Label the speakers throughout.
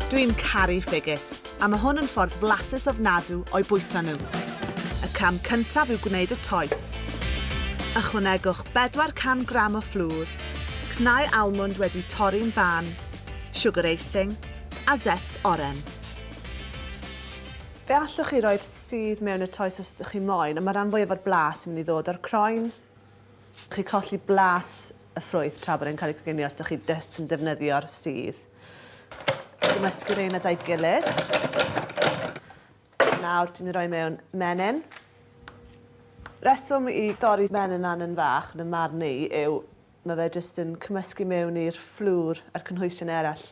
Speaker 1: Dwi'n caru ffigys, a mae hwn yn ffordd flasus ofnadw o'i bwyta nhw. Y cam cyntaf yw gwneud y toes. Ychwanegwch 400 gram o fflwr, cnau almwnd wedi torri'n fân, siwgr eising, a zest oren. Fe allwch chi roi'r sudd mewn y toes os ydych chi'n moyn, ond mae'r rhan fwyaf o'r blas yn mynd i ddod o'r croen. Chi'n colli blas y ffrwyth tra bod e'n cael ei coginio os ydych chi jyst yn defnyddio'r sudd. Cymysgu rheina da'i gilydd. Nawr, dwi'n mynd i roi mewn menyn. Reswm i dorri menyn lan yn fach, yn y marn i, yw mae fe jyst yn cymysgu mewn i'r fflwr a'r cynhwysion eraill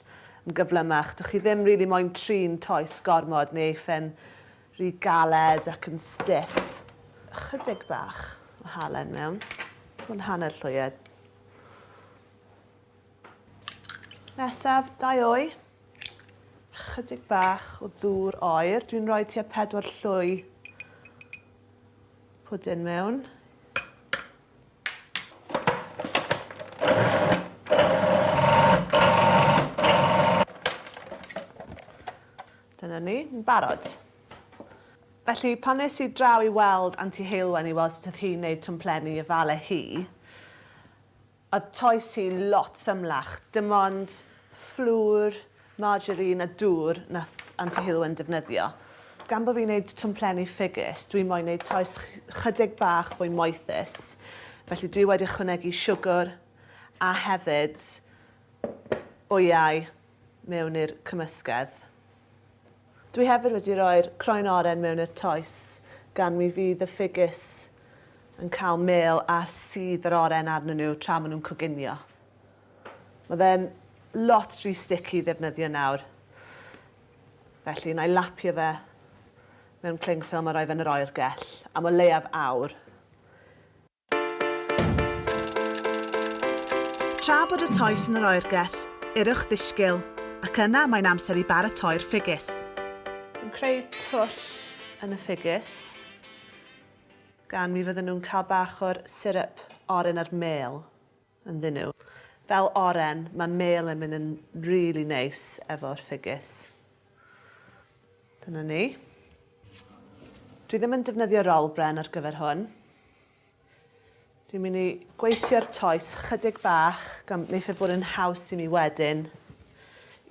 Speaker 1: yn gyflymach. Dych chi ddim rili really moyn trin toes gormod neu eiffen Rhy galed ac yn stiff. Ychydig bach o halen mewn. Hwn hanner llwyed. Nesaf, dau o'i. Ychydig bach o ddŵr oer. Dwi'n rhoi tua pedwar llwy pwdin mewn. Dyna ni, yn barod. Felly, pan es i draw i weld Anti Heulwen i weld sut oedd hi'n neud twmplenni i ofale hi, oedd toes hi lot symlach. Dim ond fflwr, margarine a dŵr nath Anti Heulwen defnyddio. Gan bo' fi'n neud twmplenni ffigys, dwi moyn neud toes 'chydig bach fwy moethus, felly dwi wedi ychwanegu siwgwr a hefyd wyau. mewn i'r cymysgedd. Dwi hefyd wedi rhoi'r croen oren mewn i'r toes gan mi fydd y ffigys yn cael mêl ar sudd yr oren arnyn nhw tra maen nhw'n coginio. Mae fe'n lot rhy sticky i ddefnyddio nawr. Felly, na i lapio fe mewn cling ffilm a rhoi fe yn yr oergell am o leiaf awr. Tra bod y toes yn yr oergell, yrrwch ddisgyl, ac yna mae'n amser i baratoi'r ffigys. Yn creu twll yn y ffigys, gan mi fydden nhw'n cael bach o'r syrup oren a'r mêl. ynddyn nhw. Fel oren mae mêl yn mynd yn rili neis efo'r ffigys. Dyna ni. Dwi ddim yn defnyddio rol bren ar gyfer hwn. Dwi'n mynd i gweithio'r toes chydig bach gan wneud fe bod yn haws i mi wedyn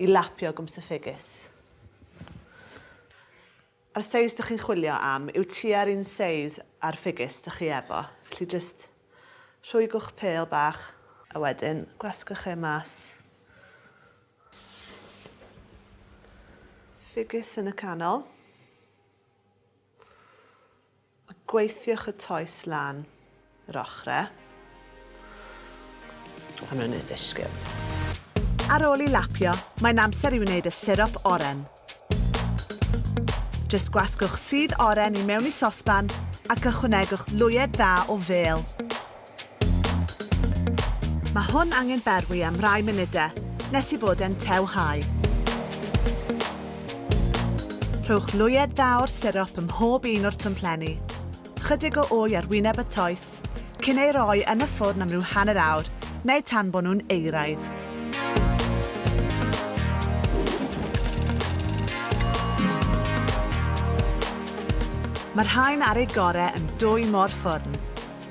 Speaker 1: i lapio gwmps y ffigys. Yr seis dych chi'n chwilio am yw tua'r un seis a'r ffigys dych chi efo, felly jyst rhwygwch pêl bach, a wedyn gwasgwch e mas, ffigys yn y canol. Gweithiwch y toes lan yr ochrau pan mae'n ei ddisgyn. Ar ôl i lapio, mae'n amser i wneud y sirop oren. Jyst gwasgwch sudd oren i mewn i sosban ac ychwanegwch lwyed dda o fêl. Mae hwn angen berwi am rai munude nes i fod e'n tew hau. Rhowch lwyed dda o'r sirop ym mhob un o'r twmplenni. Chydig o wy ar wyneb y toes, cyn ei roi yn y ffwrn am ryw hanner awr neu tan bo nhw'n euraidd. Mae'r rhain ar eu gore yn dwy mo'r ffwrn.